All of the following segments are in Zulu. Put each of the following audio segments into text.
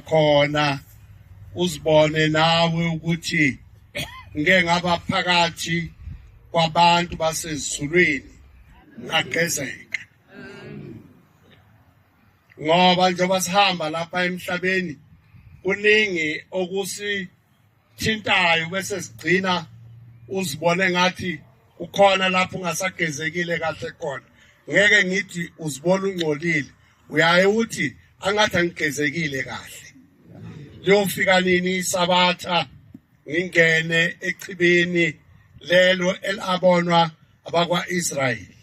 khona uzibone nawe ukuthi ngeke ngaba phakathi kwabantu basezulwini ngagezeka ngoba njengoba sihamba lapha emhlabeni kuningi okusi thintayo bese sigcina uzibone ngathi kukhona lapho ungasagezekile kahle khona ngeke ngithi uzibona ungcolile uyaye uthi angathi angigezekile kahle liyofika nini isabatha ngingene echibini lelo elabonwa abakwa-israyeli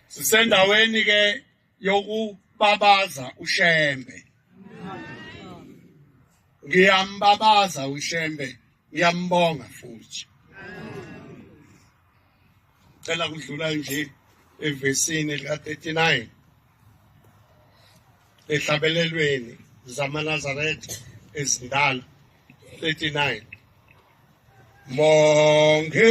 sisendaweni-ke yokubabaza uShembe. Ngiyambabaza uShembe, ngiyambonga futhi. Cela kudlula nje evesini lika 39 ehlabelelweni zamaNazaretha ezindala 39 Monge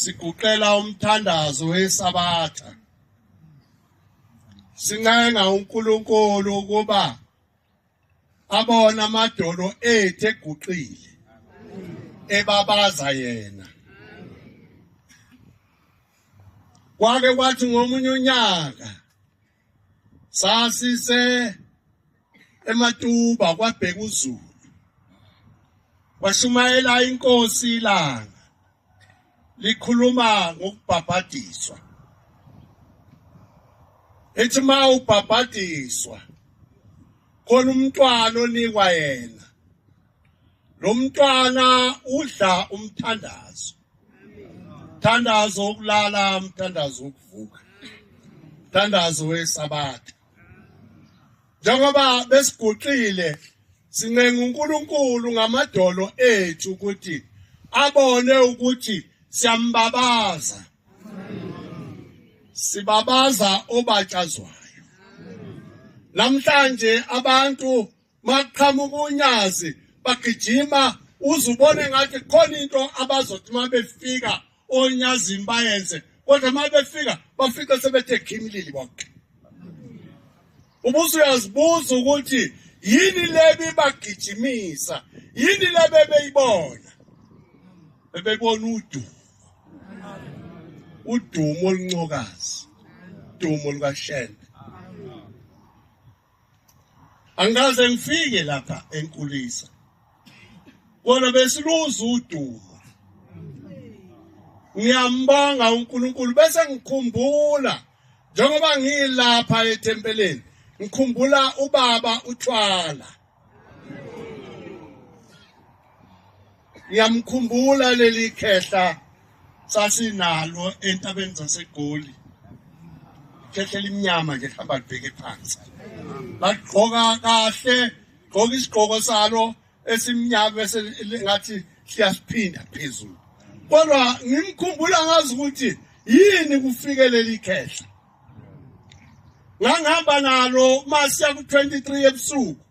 siguqela umthandazo wesabatha sincenga uNkulunkulu ukuba abona amadolo ethu eguqile ebabaza yena kwake kwathi ngomunye unyaka sasise ematuba kwabheka uzulu washumayela inkosi ilanga likhuluma ngokubhabhadiswa ethi ma ubhabhadiswa khona umntwana onikwa yena lo mntwana udla umthandazo Thandazo ukulala, mthandazo ukuvuka. Thandazo wesabatha. Njengoba besiguqile sincenga uNkulunkulu ngamadolo ethu ukuthi abone ukuthi siyambabaza. Sibabaza obatshazwayo. Namhlanje abantu Maqhamuka unyazi bagijima uze ubone ngathi khona into abazothi uma befika onyazini bayenze kodwa uma befika bafike sebethe khimlili bonke ubuze uyazibuza ukuthi yini le bibagijimisa yini le bebeyibona bebebona udumo udumo oluncokazi udumo lukashende angikaze ngifike lapha enkulisa kona besiluza udumo ngiyambonga uNkulunkulu bese ngikhumbula njengoba ngilapha ethempeleni ngikhumbula ubaba uthwala Ngiyamkhumbula leli khehla sasinalo entabeni zaseGoli. Khehla elimnyama nje hamba libheke phansi. Bagqoka kahle, gqoka isigqoko salo esimnyama bese ngathi siyasiphinda phezulu. Kodwa ngimkhumbula ngazi ukuthi yini kufike leli khehla. Ngangihamba nalo masiya ku-23 ebusuku.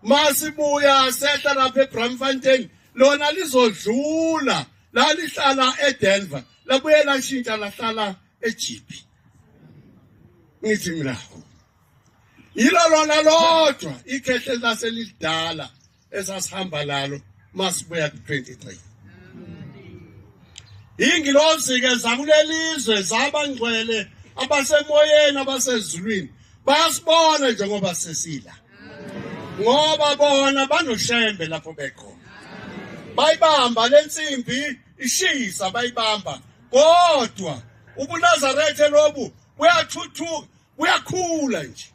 masibuya sehla lapha eBramfontein lona lizodlula lalihlala eDenver labuye lashintsha lahlala eJipi ngithi mina yilo lona lodwa ikhehle laselidala esasihamba lalo masibuya ku-23 ingilozi-ke zakulelizwe zabangcwele abasemoyeni abasezulwini basibona njengoba sesila ngoba bona banoshembe lapho bekhona bayibamba le nsimbi ishisa bayibamba kodwa ubunazarethe lobu buyathuthuka kuyakhula nje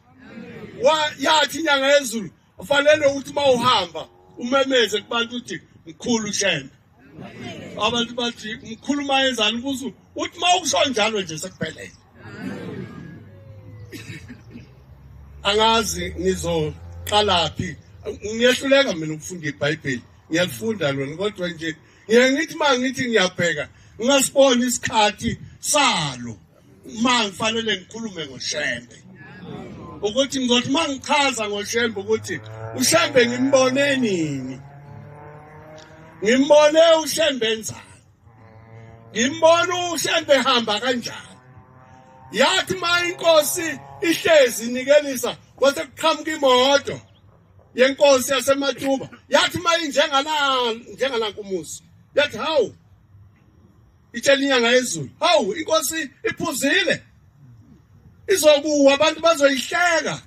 yathi inyanga yezulu ufanele ukuthi uma uhamba umemeze kubantu ukuthi mkhulu shembe abantu bathi mkhulu uma yenzani kuzo uthi uma ukusho njalo nje sekuphelele angazi ngizoqalaphi ngiyehluleka mina ukufunda ibhayibheli ngiyalifunda lona kodwa nje ngiye ngithi uma ngithi ngiyabheka ngingasiboni isikhathi salo uma ngifanele ngikhulume ngoshembe ukuthi ngizothi uma ngichaza ngoshembe ukuthi ushembe ngimbone nini ngimbone ushembe enzani ngimbone ushembe ehamba kanjani yathi uma inkosi ihlezi nikelisa kwase kuqhamuka imoto yenkosi yasematuba yathi uma injengala njengalanka umuzi yathi hawu itshela inyanga yezulu hawu inkosi iphuzile izokuwa abantu bazoyihleka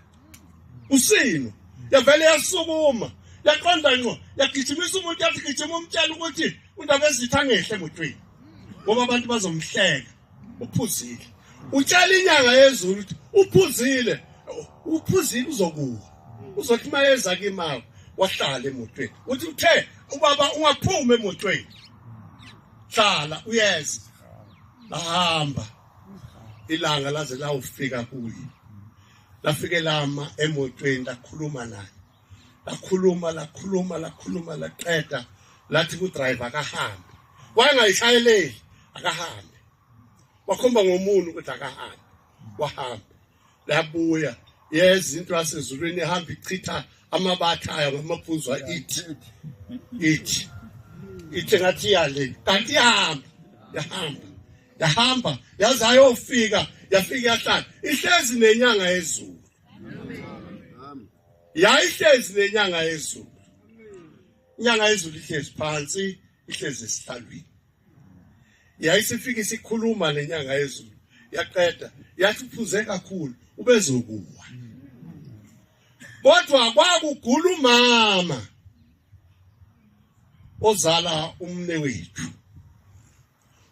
usino yavele yasukuma yaqonda ngqo yagijimisa umuntu yathi gijima umtshela ukuthi undaba ezitha ngehle emotweni ngoba abantu bazomhleka uphuzile utshela inyanga yezulu ukuthi uphuzile uphuzile uzokuwa uzothi uma eza kimawo wahlala emotweni uthi uthe ubaba ungaphumi emotweni hlala uyeza bahamba ilanga laze lawufika kuye lafike lama emotweni lakhuluma naye lakhuluma lakhuluma lakhuluma laqeda lathi kudriver akahambe wangayishayeleli akahambe wakhomba ngomuntu ukuthi akahambe wahambe labuya yeza into yasezulwini ihamba ichitha amabatha ayo ngamaphuzwa ithi ithi ithi ngathi yale kanti ihamba yahamba yahamba yaze ayofika yafika yahlala ihlezi nenyanga yezulu yayihlezi nenyanga yezulu inyanga yezulu ihlezi phansi ihlezi esihlalweni yayisifika isikhuluma lenyanga yezulu yaqeda yathi uphuze kakhulu ubezokuwa kodwa kwakugula umama ozala umne wethu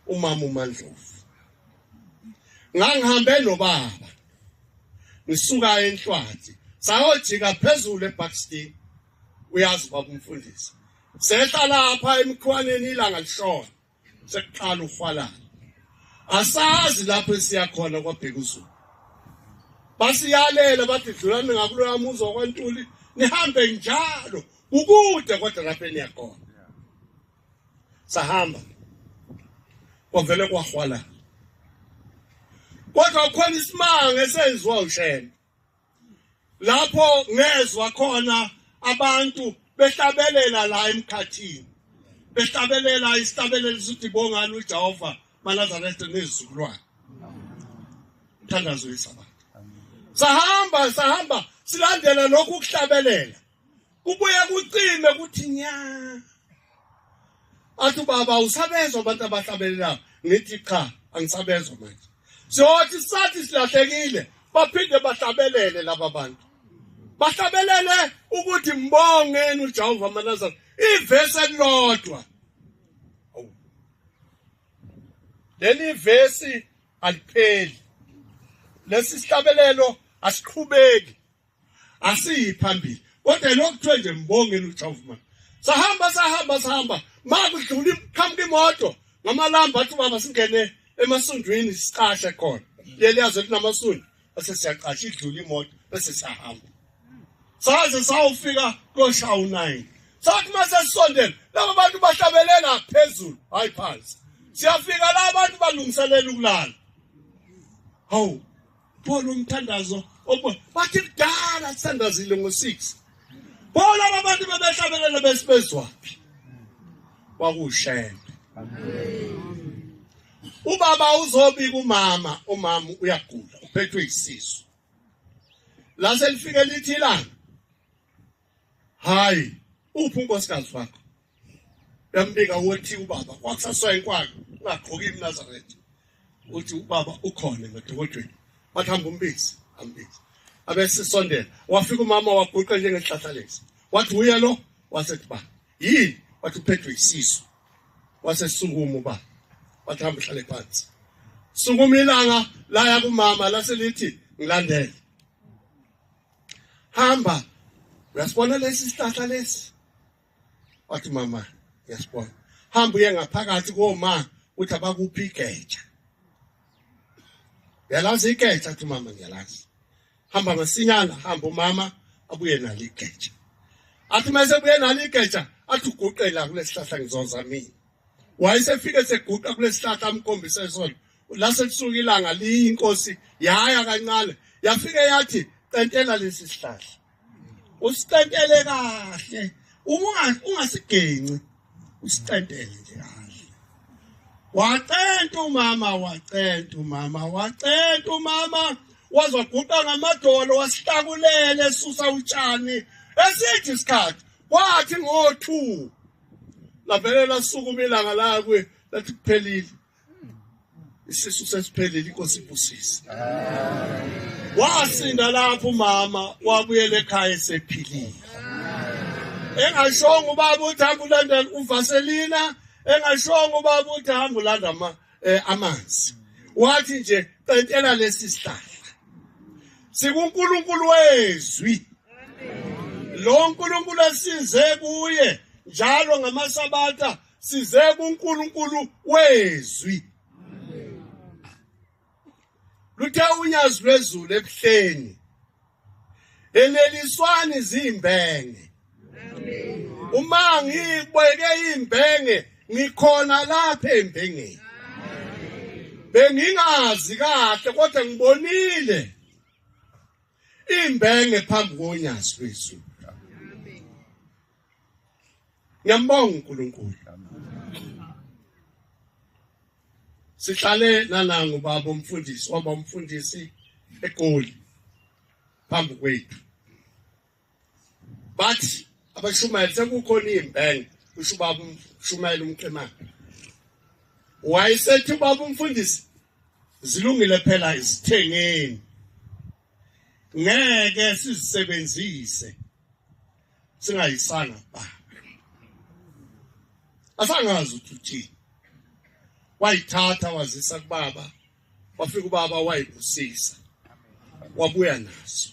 umama uMandlovu ngangihambe nobaba ngisuka enhlwathi sayojika phezulu eBackstein uyazi babumfundisi Sehla lapha emkhwaneni ilanga lishona. Sekuqala uhwalala. Asazi lapho esiya khona kwabheka uZulu. Basiyalela bathi dlulani ngakuloya muzi wakwantuli nihambe njalo ukude kodwa lapho eniyakhona. Sahamba. Kwavele kwahwalala. Kodwa khona isimanga esenziwa uShembe. lapho ngezwa khona abantu behlabelela la emkhathini behlabelela isihlabelelo sithi bongani uJehova manazaretha nezizukulwane mthandazo yesaba sahamba sahamba silandela lokhu kuhlabelela kubuye kucime kuthi nya athi baba usabezwa abantu abahlabelelayo ngithi cha angisabezwa manje siyothi sathi silahlekile baphinde bahlabelele laba bantu bahlabelele ukuthi mbongeni uJehova amanazana ivesi elilodwa leli vesi alipheli lesi sihlabelelo asiqhubeki asiyi phambili kodwa lokhu kuthiwe nje mbongeni uJehova sahamba sahamba sahamba makudlula iqhamuka imoto ngamalamba athi baba singene emasundwini siqashe khona leliyaze linamasundu bese siyaqasha idlula imoto bese siyahamba saze sawufika koshawu 9 sathi mase sisondela laba bantu bahlabelela phezulu hayi phansi siyafika la abantu balungiselela ukulala hawu Phola umthandazo okuba bathi kudala sithandazile ngo-6 phola abantu bebehlabelele besibezwaphi kwakushembe ubaba uzobika umama umama uyagula uphethwe isisu lase lifike lithi ilanga hayi uphi unkosikazi wakho yambika wothi ubaba wakusaswa inkwalo ungagqoki imnazaretha uthi ubaba ukhona ngodokotweni wathi hamba umbisi ambisi abesisondela wafika umama waguqa njengehlahla lesi wathi uye lo wasethi ba yini wathi uphethwe isisu wasesukuma uba wathi hamba uhlale phansi sukuma ilanga laya kumama lase lithi ngilandele hamba uyasibona lesi sihlahla lesi wathi mama uyasibona hamba uye ngaphakathi koma uthi abakuphi igeja uyalazi igeja athi mama ngiyalazi hamba masinyana hamba umama abuye nalo igeja athi mase buye nalo igeja athi uguqela kulesihlahla ngizoza mina wayesefike seguqa kulesihlahla amkhombise sona la sekusuka ilanga liyinkosi yaya kancane yafike yathi qentela lesi sihlahla usicentele kahle uma ungasigenci usicentele nje kahle wacenta umama wacenta umama wacenta umama wazoguqa ngamadolo wasihlakulele susa utshani esithi isikhathi wathi ngo-two lavele lasukuma ilanga lakwe lathi kuphelile isisu sesiphelile inkosi ibusise wasinda lapho umama wabuyela ekhaya esephilile engashongo ubaba uthi hamba ulandela uvaselina engashongo ubaba uthi hamba ulanda amanzi eh amanzi wathi nje qedela lesi sihlahla sikuNkulunkulu wezwi lo nkulunkulu esize kuye njalo ngamasabatha size kuNkulunkulu wezwi luthe unyazi lwezulu ebuhleni eneliswani zimbenge uma ngibeke imbenge ngikhona lapha embengeni bengingazi kahle kodwa ngibonile imbenge phambi konyazi lwezulu Ngiyambonga uNkulunkulu. Sihlale nanangu baba umfundisi, waba umfundisi eGoli phambi kwethu. Bathi abashumayeli sekukhona imbenge usho ubaba umshumayeli umqemane wayesethi ubaba umfundisi zilungile phela izithengeni ngeke sizisebenzise singayisanga ba asangazi ukuthi uthini wayithatha wazisa kubaba wafika ubaba wayibusisa wabuya naso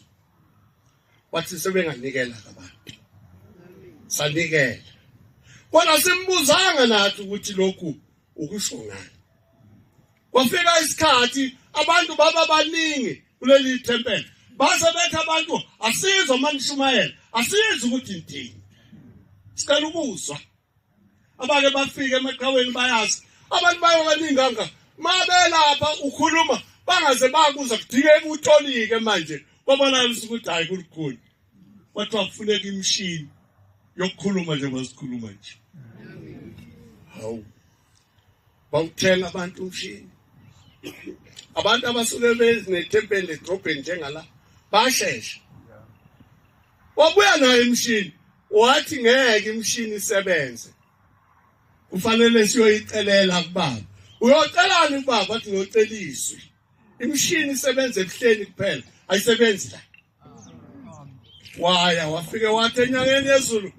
wathi sebenganikela abantu sanikela kodwa simbuzanga nathi ukuthi lokhu ukusho ngani Kwafika isikhathi abantu baba baningi kuleli thempeli base bethi abantu asizwe uma nishumayela asizwe ukuthi ndini sicela ukuzwa abake bafike emaqhaweni bayazi abantu bayokaningi kanga mabelapha ukhuluma bangaze bakuza kudingeka utolike manje kwabanalisa ukuthi hhayi kulukhulu kwathiwa kufuneka imishini yokukhuluma njengoba sikhuluma nje hawu bawuthela abantu umshini abantu abasuke bezinethempeli edrobheni njengala bashesha wabuya nayo imishini wathi ngeke imishini isebenze kufanele siyoyicelela kubaba uyocelani kubaba athi ngiyoceliswe imishini isebenza ebuhleni kuphela ayisebenzi la waya wafike wathi enyangeni yezulu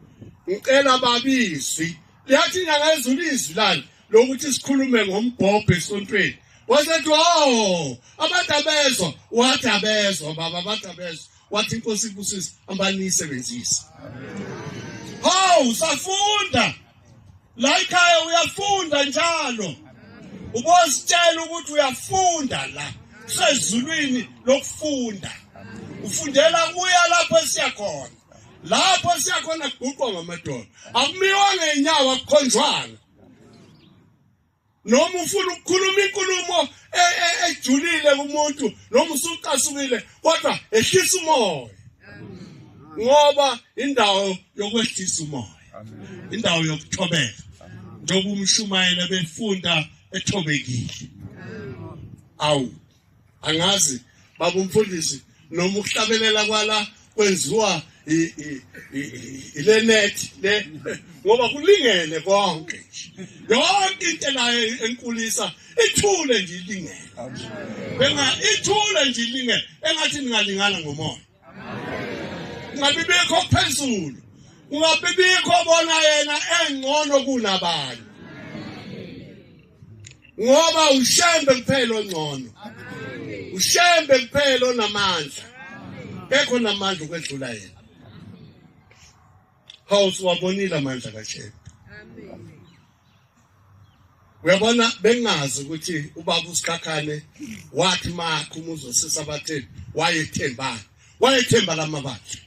ngicela babizwi liyathi inyanga yezulu izwi lani lokuthi sikhulume ngombhobho esontweni wasethi o oh, abantu abezwa wathi abezwa baba abantu abezwa wathi inkosi ibusise ambanisebenzise hawu safunda la ikhaya uyafunda njalo ubositshela ukuthi uyafunda la kusezulwini lokufunda ufundela kuya lapho esiyakhona lapho siyakhona kuguqwa ngamadolo akumiwa ngenyawo akukhonjwanga noma ufuna ukukhuluma inkulumo e, e, ejulile kumuntu noma usucasukile kodwa ehlisa umoya ngoba indawo yokwehlisa umoya indawo yokuthobeka njengoba umshumayela befunda ethobekile awu angazi baba umfundisi noma ukuhlabelela kwala kwenziwa ilenethi le ngoba kulingene konke yonke into nayo enkulisa ithule nje ilingene benga ithule nje ilingene engathi ningalingana ngomoya ngabe bikho phezulu ngabe bikho bona yena engcono kunabanye ngoba ushembe kuphela ongcono ushembe kuphela onamandla kekho namandla ukwedlula yena hawu siwabonile amandla kashembe uyabona bengazi ukuthi ubaba usikhakhane wathi makho umuzi osisi abatheni wayethembani wayethemba lamabandla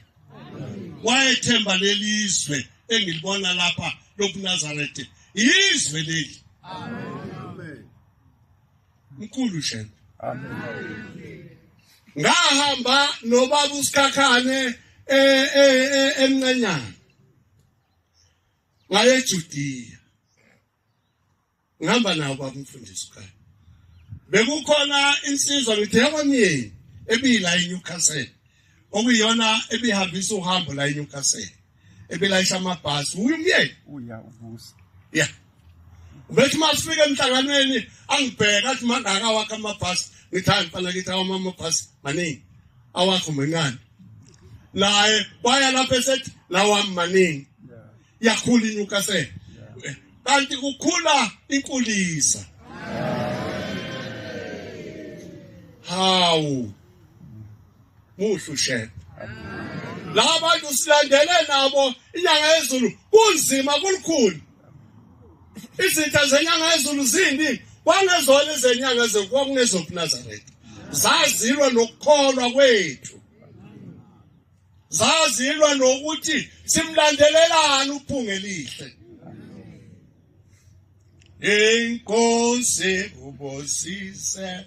wayethemba lelizwe engilibona lapha lokunazarethe izwe leli amen mkhulu shembe amen ngahamba nobaba usikhakhane eh, eh, eh, emncanyana ngaye eJudiya ngihamba nawo babumfundisi ukhaya bekukhona insizwa ngithi yakwamyeni ebiyila eNewcastle okuyiyona ebihambisa uhambo la eNewcastle ebelayisha amabhasi uye umyeni uya uvusa ya ubethi uma sifike emhlanganweni angibheka athi mangaka wakhe amabhasi ngithi hayi mfana kithi awami amabhasi maningi awakho mancane naye waya lapho esethi lawami maningi yakhula inyukasele kanti kukhula inkulisa hawu Muhle ushela. Laba bantu silandele nabo inyanga yezulu kunzima kulukhulu. Izitha zenyanga yezulu zindi kwangezona izenyanga zekwakungezobunazareth. Zazilwa nokukholwa kwethu. Zazilwa nokuthi simlandelelani uphunga elihle. Inkosi kubosise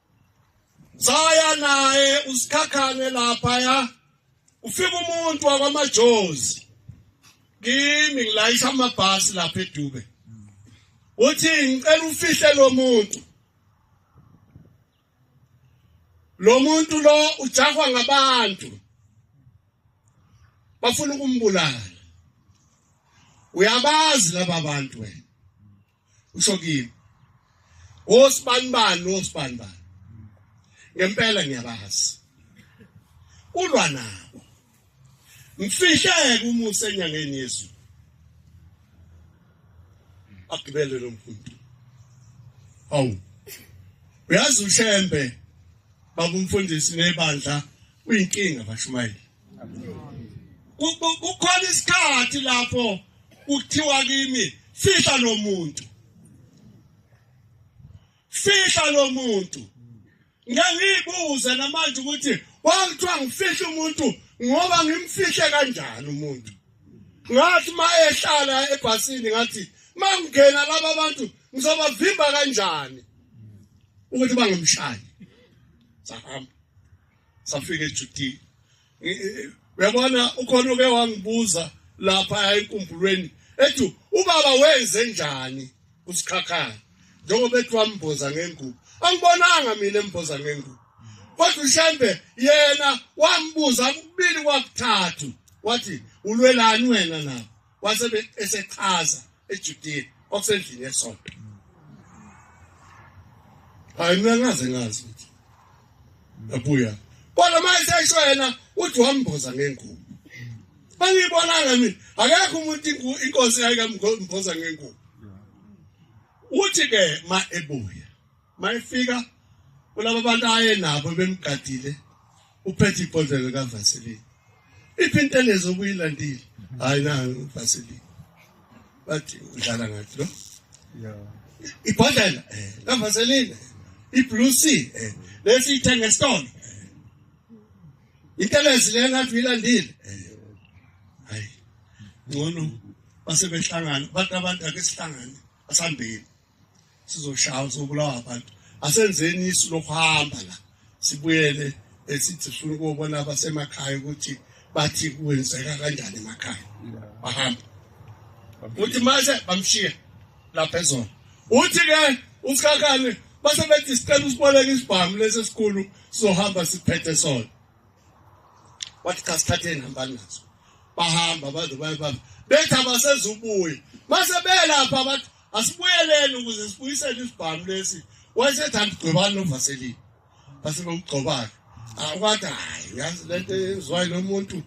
saya naye usikhakhane lapha ya ufika umuntu wakwamajozi kimi ngilayisha amabhasi lapha edube uthi ngicela ufihle lo muntu lo muntu lo ujahwa ngabantu bafuna ukumbulala uyabazi laba bantu wena usho kimi wosibanibani wosibanibani ngempela ngiyabazi ulwa nabo mfihleke umusa enyangeni yezulu agibele lo mfundi awu uyazi ushembe babumfundisi nebandla uyinkinga bashumayeli kukhona isikhathi lapho kuthiwa kimi fihla lo muntu fihla lo muntu ngiyibuza namanje ukuthi wangithiwa ngifihle umuntu ngoba ngimfihle kanjani umuntu ngathi uma ehlala ebhasini ngathi uma ngingena laba bantu ngizobavimba kanjani ukuthi bangamshayi sahamba safika ejudini uyabona ukhona uke wangibuza lapha enkumbulweni ethi ubaba wenze njani kusikhakhayo njengoba ethi wamboza ngengubo angibonanga mina emboza ngengubo kodwa ushembe yena wambuza kubili kwakuthathu wathi ulwelani wena nabo wase esechaza eJudiya okusendlini yesonto hayi mina ngaze ngazi ukuthi abuya kodwa uma esesho yena uthi wamboza ngengubo bangibonanga mina akekho umuntu inkosi yayikamboza ngengubo uthi ke ma ebuya mayefika kulabo bantu ayenabo bemgadile uphethe ibhodlela kavaseline iphi into elezo okuyilandile hayi na vaseline bathi udlala ngathi lo ibhodlela eh kavaseline iblue sea eh lesi ithenge stone into elezo le ngathi uyilandile eh hayi ngcono basebehlangana abantu abantu ake sihlangane asambeni sizoshaya uzobulawa abantu asenzeni isu lokuhamba la sibuyele esithi sifuna ukubona abasemakhaya ukuthi bathi kwenzeka kanjani emakhaya bahambe uthi mase bamshiya lapha ezona uthi ke usikakane base bethi sicela usiboleke isibhamu lesi esikhulu sizohamba siphethe sona wathi cha sithathe inhambani naso bahamba baze baye baba bethi abasezubuye mase belapha bathi asibuyeleni ukuze sibuyisele isibhamu lesi wayesethanda ugcobani novaselini base bokugcobana akwathi hayi uyazi le nto ezwayo lo muntu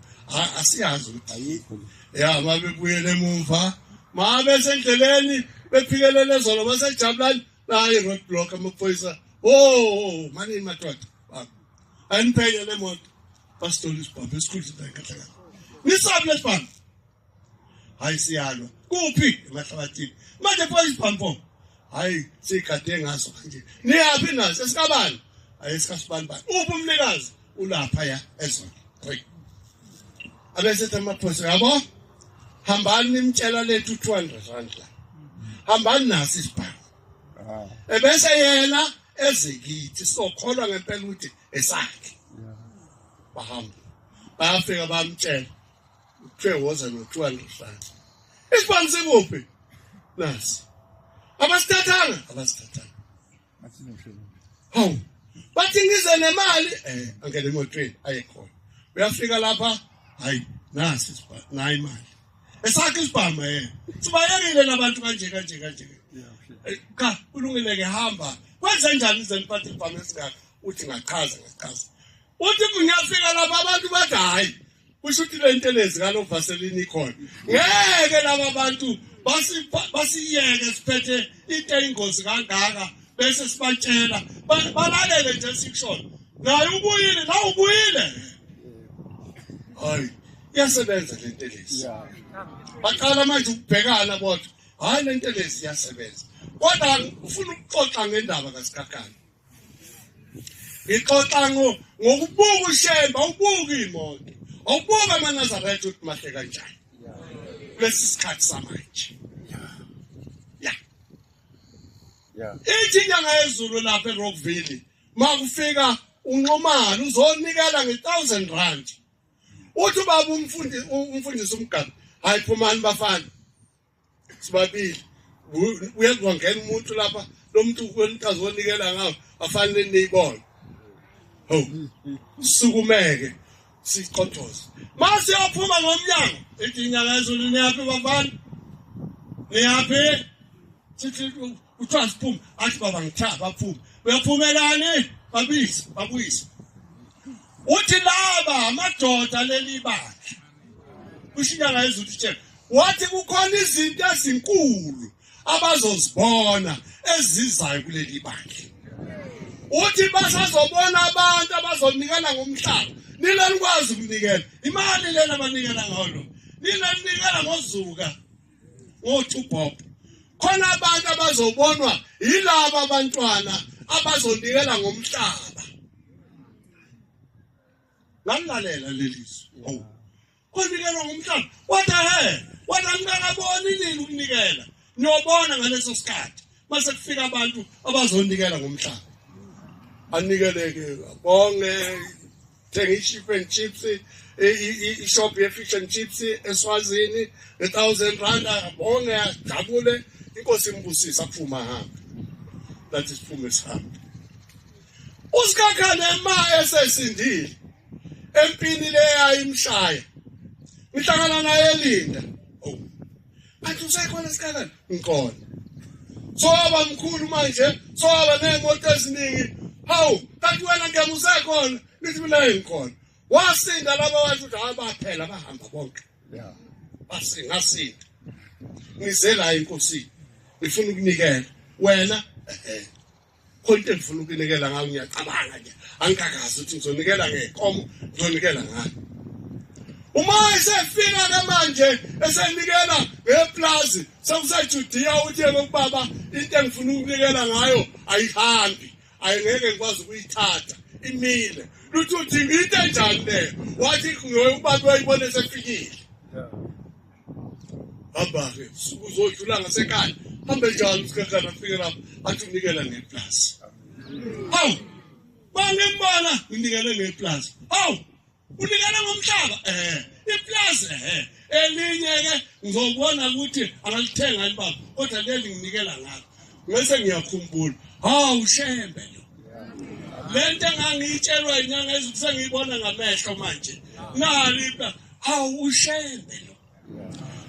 asiyazi ukuthi ayikho ya ma bebuyele emumva ma besendleleni bephikelele zolo basejabulani naye road block amaphoyisa o manini madoda aniphenye le moto basithola isibhamu esikhulu sidayi kahle kahle nisabule sibhamu hayi siyalwa kuphi emahlabathini manje pho isibhampo hayi sigade ngaso manje niyaphi naso esikabani hayi esikasibani bani uphi umnikazi ulapha ya ezona three abese tamaphoso yabo hambani nimtshela lethu 200 rand la hambani naso isibhampo ah. ebese yena ezikithi sokholwa ngempela ukuthi esakhe bahamba bafika bamtshela kuthiwe woza notshwala ehlala isibhamu sikuphi nasi abasithathanga abasithathanga hawu bathi ngize nemali eh angene emotweni ayekhona uyafika lapha hayi nasi isibhamu nayi imali esakhe isibhamu eh sibayekile labantu kanje kanje kanje eh, cha kulungile ke hamba kwenze njani izeniphathe ibhamu esingaka uthi ngachaza ngachaza uthi ngiyafika lapha abantu bathi hayi kusho ukuthi le ntelezi kalo vaselini ikhona ngeke laba bantu basiyeke siphethe into eyingozi kangaka bese sibatshela balalele nje sikushoyo naye ubuyile nawe ubuyile hayi iyasebenza le ntelezi baqala manje ukubhekana bodwa hayi le ntelezi iyasebenza kodwa ufuna ukuxoxa ngendaba kasikhakhane ngixoxa ngokubuka ushemba ubuka iy'moto awubuka amanazaretha ukuthi mahle kanjani kulesi sikhathi samanje ithi inyanga yezulu lapha erockville makufika unxumane uzonikela nge-thousand rand uthi ubaba umfundisi umgabe hayi phumani bafana sibabili uyazi kwangena umuntu lapha lo muntu kwenikazi wonikela ngawo afanele niyibone ho sukumeke siqothoze mase yaphuma ngomnyango ithi inyanga ezulu niyaphi bafana niyaphi sithi kuthiwa siphume athi baba ngithatha baphume uyaphumelani babisi babuyise uthi laba amadoda leli bandla ushiya ngayezulu utshela wathi kukhona izinto ezinkulu abazozibona ezizayo kuleli bandla uthi basazobona abantu abazonikana ngomhlaba nina nikwazi ukunikela imali lena abanikela ngayo lo nina ninikela ngozuka wothi uBob khona abantu abazobonwa yilabo abantwana abazonikela ngomhlaba ngalalela lelizwi oh konikela ngomhlaba wathi he wathi angikaboni nini ukunikela niyobona ngaleso sikhathi mase kufika abantu abazonikela ngomhlaba anikeleke bonge thenga i-chip and chips ishop ye-fish and chips eswazini nge-thousand rand abone ajabule inkosi imbusise aphume ahambe lathi siphume sihambe usikhakhane ma esesindile empini le yayimshaya ngihlangana naye elinda Athi usekhona esikhaleni ngikhona. Soba mkhulu manje soba nemoto eziningi. Hawu kanti wena ngeke usekhona nithi mina ngikhona. Wasinda laba bantu ukuthi hayi baphela bahamba bonke. Yeah. Basinga sinda. Ngizela inkosi. Ngifuna ukunikela wena eh, eh. khona into engifuna ukunikela ngayo ngiyacabanga nje angikakazi ukuthi ngizonikela ngekomo ngizonikela ngayo uma esefika ke manje esenikela ngeplazi sekusejudiya uthi yena ubaba into engifuna ukunikela ngayo ayihambi ayingeke ngikwazi ukuyithatha imile luthi uthi ngiyite njani le wathi ngoye ubaba wayibona esefikile hamba-ke suku uzodlula ngasekhaya hambe njalo usikhakhana afike lapho athi unikela ngeplasi awu bangembala unikele ngeplasi awu unikele ngomhlaba ehe iplasi ehe elinye-ke ngizobona ukuthi angalithenga libaba kodwa leli nginikela ngalo ngese ngiyakhumbula hawu shembe lo le nto engangiyitshelwa inyanga ezibusengiyibona ngamehlo manje nali Hawu ushembe lo.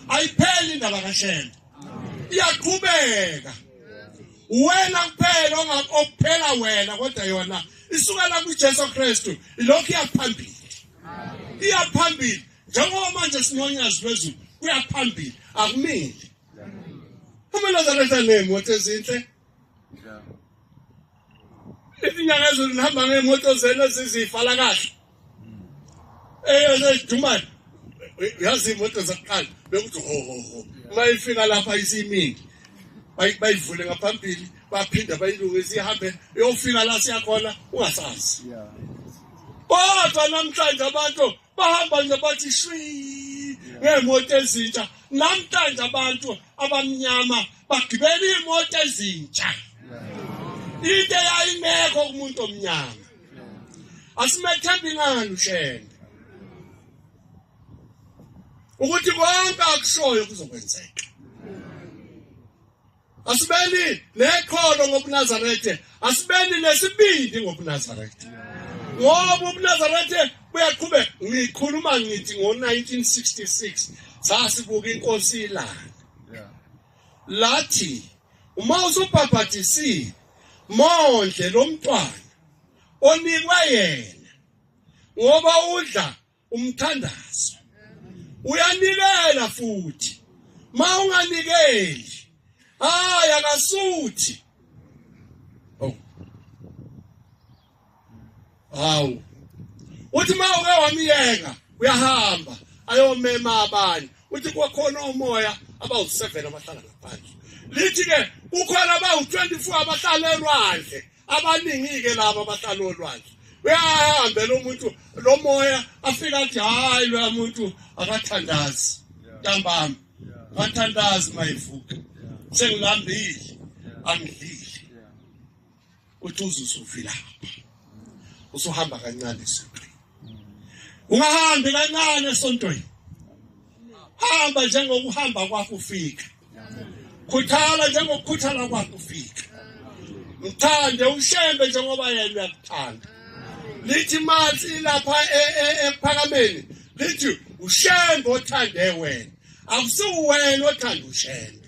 Ayipheli indaba kaShembe. Iyaqhubeka. Wena kuphela ongakuphela wena kodwa yona isukela kuJesu Kristu ilokhu iyaphambili. Iyaphambili njengoba manje sinonyazi lwezulu kuyaphambili akumile. Uma lazareta name what is it? izinyanga ezulu nihamba ngemoto zenu ezizifala kahle eyezidumane yazi imoto zakuqala bekuthi hohoho uma ifika lapha isiningi bayivule ngaphambili baphinde bayilungise ihambe yofika la siyakhona ungasazi kodwa namhlanje abantu bahamba nje bathi shwi ngeemoto ezintsha namhlanje abantu abamnyama bagibela iimoto ezintsha into eyayingekho kumuntu omnyama asimethembi ngani ushende ukuthi konke akushoyo kuzokwenzeka Asibeni nekholo ngobuNazaretha, asibeni nesibindi ngobuNazaretha. Ngoba ubuNazaretha buyaqhubeka. Ngikhuluma ngithi ngo-1966 sasibuka inkosi ilanga. Lathi uma usubhabhadisile mondle lo mntwana onikwe yena ngoba udla umthandazo uyanikela futhi mawunganikeli hayi akasuthi oh hawu uthi mawuke wamiyeka uyahamba ayomema abanye uthi kwakhona umoya abawu7 abahlala ngaphandle lithi ke kukhona abawu24 abahlala elwandle abaningi-ke laba abahlala olwandle uyahambela umuntu lo moya afika athi hhayi loya muntu akathandazi ntambami akathandazi mayivuka sengilambile angidlile uthi uzusuvilapha usuhamba kancane esontweni ungahambi kancane esontweni hamba njengokuhamba kwakho ufika khuthala njengokukhuthala kwakho ufika mthande ushembe njengoba yena uyakuthanda lithi manzi lapha e, e, ekuphakameni lithi ushembe othande wena akusiwena othanda ushembe